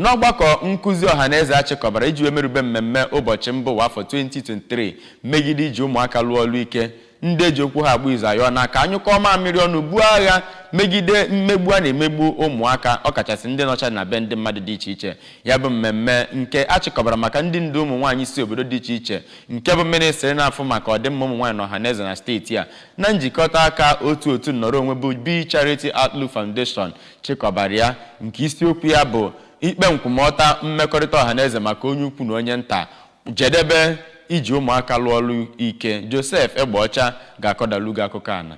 N'ọgbakọ nkụzi ọhaneze a chịkọbara iji wee merube mmemme ụbọchị mba ụwa afọ 2023 megide iji ụmụaka lụọ ọlụ ike, ndị eji okwu ha agba izu ayọọla ka a nyụkọọ mamịrị ọnụ buo agha megide mmegbu a na-emegbu ụmụaka ọkachasị ndị nọcha na be ndị mmadụ dị iche iche. Ya bụ mmemme nke a chịkọbara maka ndị ndu ụmụnwaanyị si obodo dị iche iche nke bụ mịnịstrị na-afụ maka ọdịmma ụmụnwaanyị na ọhaneze na steeti a na njikọta aka otu otu nnọrọ onwe bụ Be Charity Outlook Foundation chịkọbara ya nke isiokwu ya bụ ikpe nkwụmọta mmekọrịta ọhaneze maka onye ukwu na onye nta jedebe iji ụmụaka lụọ ọlụ ike Joseph Egbeọcha ga-akọdalu gị akụkọ ana.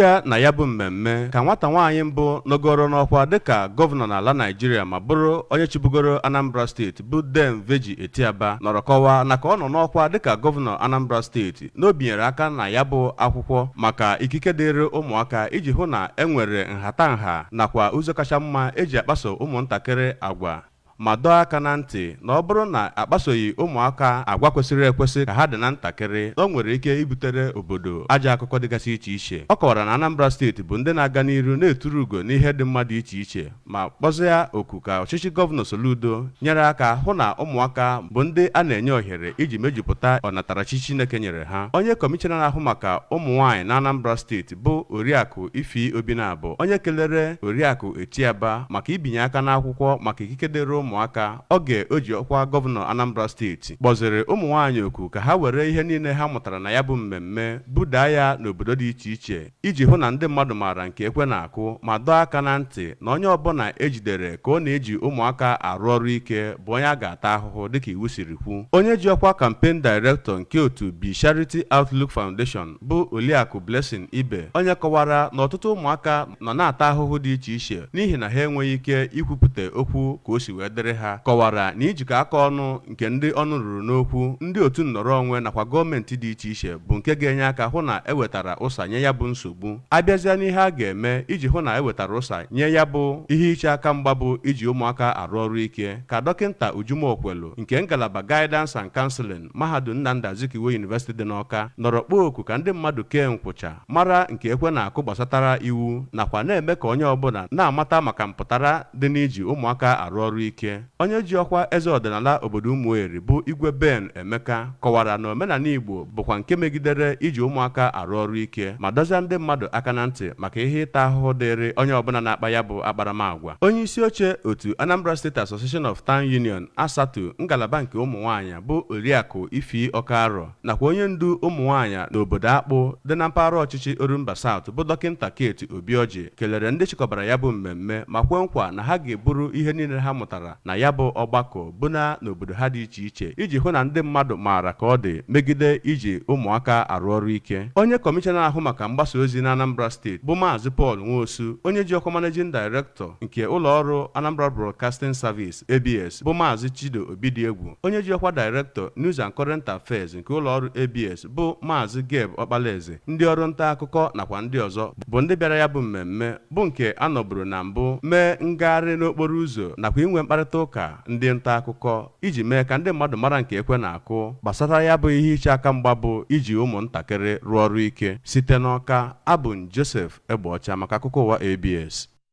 Ọ na ya bụ mmemme ka nwata nwaanyị mbụ nọgoro n'ọkwa dịka gọvanọ n'ala Naịjirịa ma bụrụ onye chịbugoro Anambra steeti bụ Dame Virgy Etiaba nọrọ kọwaa na ka ọ nọ n'ọkwa dịka gọvanọ Anambra steeti na o binyere aka na ya bụ akwụkwọ maka ikike dịịrị ụmụaka iji hụ na e nwere nhatanha nakwa ụzọ kacha mma eji akpaso ụmụntakịrị agwa ma dọọ aka na ntị na ọ bụrụ na akpasoghị ụmụaka agwa kwesịrị ekwesị ka ha dị na ntakịrị na o nwere ike ibutere obodo ajọ akụkọ dịgasị iche iche ọ kọwara na Anambra steeti bụ ndị na-aga n'iru na-eturu ugo n'ihe dị mma dị iche iche ma kpọzịa oku ka ọchịchị Gọvanọ Soludo nyere aka hụ na ụmụaka bụ ndị a na-enye ohere iji mejupụta ọnatarachi Chineke nyere ha. Onye Kọmishọna na-ahụ maka ụmụnwaanyị n'Anambra steeti bụ Oriakụ Ify Obinabo onye kelere Oriakụ Etiaba maka ibinye aka n'akwụkwọ maka ikike dịrị ụmụaka oge o ji ọkwa Gọvanọ Anambra steeti, kpọzịrị ụmụnwaanyị oku ka ha were ihe niile ha mụtara na ya bụ mmemme budaa ya n'obodo dị iche iche. iji hụ na ndị mmadụ maara nke ekwe na-akụ ma dọọ aka na ntị na onye ọbụla e jidere ka ọ na-eji ụmụaka arụ ọrụ ike bụ onye a ga-ata ahụhụ dịka iwu siri kwu. Onye ji ọkwa Campaign Director nke otu Be Charity Outlook Foundation bụ Oliakụ Blessing Ibe onye kọwara na ọtụtụ ụmụaka nọ na-ata ahụhụ dị iche iche n'ihi na ha enweghị ike ikwupụta okwu ka o si wee dịrị ha, kọwara na ijikọ aka ọnụ nke ndị ọnụ ruru n'okwu, ndị otu nnọrọ onwe nakwa gọọmenti dị iche iche bụ nke ga-enye aka hụ na e wetara ụsa nye ya bụ nsogbu. A bịazịa n'ihe a ga-eme iji hụ na e wetara ụsa nye ya bụ ihe iche aka mgba bụ iji ụmụaka arụ ọrụ ike, ka Dọkịnta Uju Mokwelu nke ngalaba Guidance and Counseling, Mahadum Nnamdi Azikiwe University dị n'Awka, nọrọ kpọọ oku ka ndị mmadụ kee nkwụcha, mara nke ekwe na-akụ gbasatara iwu nakwa na-eme ka onye ọbụla na-amata maka mpụtara dị n'iji ụmụaka arụ ọrụ ike. Onye ji ọkwa eze ọdịnala obodo Umueri bụ Igwe Ben Emeka kọwara na omenala Igbo bụkwa nke megidere iji ụmụaka arụ ọrụ ike ma dọzịa ndị mmadụ aka na ntị maka ihe ịta ahụhụ dịịrị onye ọbụla na-akpa ya bụ akparamagwa. Onye isi oche otu Anambra State Association of Town Union, ASATU, ngalaba nke ụmụnwaanyị bụ Oriakụ Ify Okaro, nakwa onye ndu ụmụnwaanyị n'obodo Akpụ dị na mpaghara ọchịchị Orumba South bụ Dọkịnta Kate Obiọjị kelere ndị chịkọbara ya bụ mmemme ma kwe nkwa na ha ga-eburu ihe niile ha mụtara na ya bụ ọgbakọ buna n'obodo ha dị iche iche iji hụ na ndị mmadụ maara ka ọ dị megide iji ụmụaka arụ ọrụ ike. Onye kọmishọna na-ahụ maka mgbasa ozi na Anambra steeti bụ Maazị Paul Nwosu, onye ji ọkwa Managing Director nke ụlọ ọrụ Anambra Broadcasting Service, ABS, bụ Maazị Chido Obidiegwu, onye ji ọkwa Director, News and Current Affairs nke ụlọọrụ ABS, bụ Maazị Gab Okpalaeze, ndị ọrụ ntaakụkọ nakwa ndị ọzọ bụ ndị bịara ya bụ mmemme, bụ nke a nọburu na mbụ mee ngagharị n'okporo ụzọ nakwa inwe mkparịta ụka ndị ntaakụkọ iji mee ka ndị mmadụ mara nke ekwe na-akụ gbasara ya bụ ihe iche aka mgba bụ iji ụmụntakịrị rụọ ọrụ ike. Site n'Ọka, abụ m Joseph Egbeọcha maka akụkọ ụwa ABS.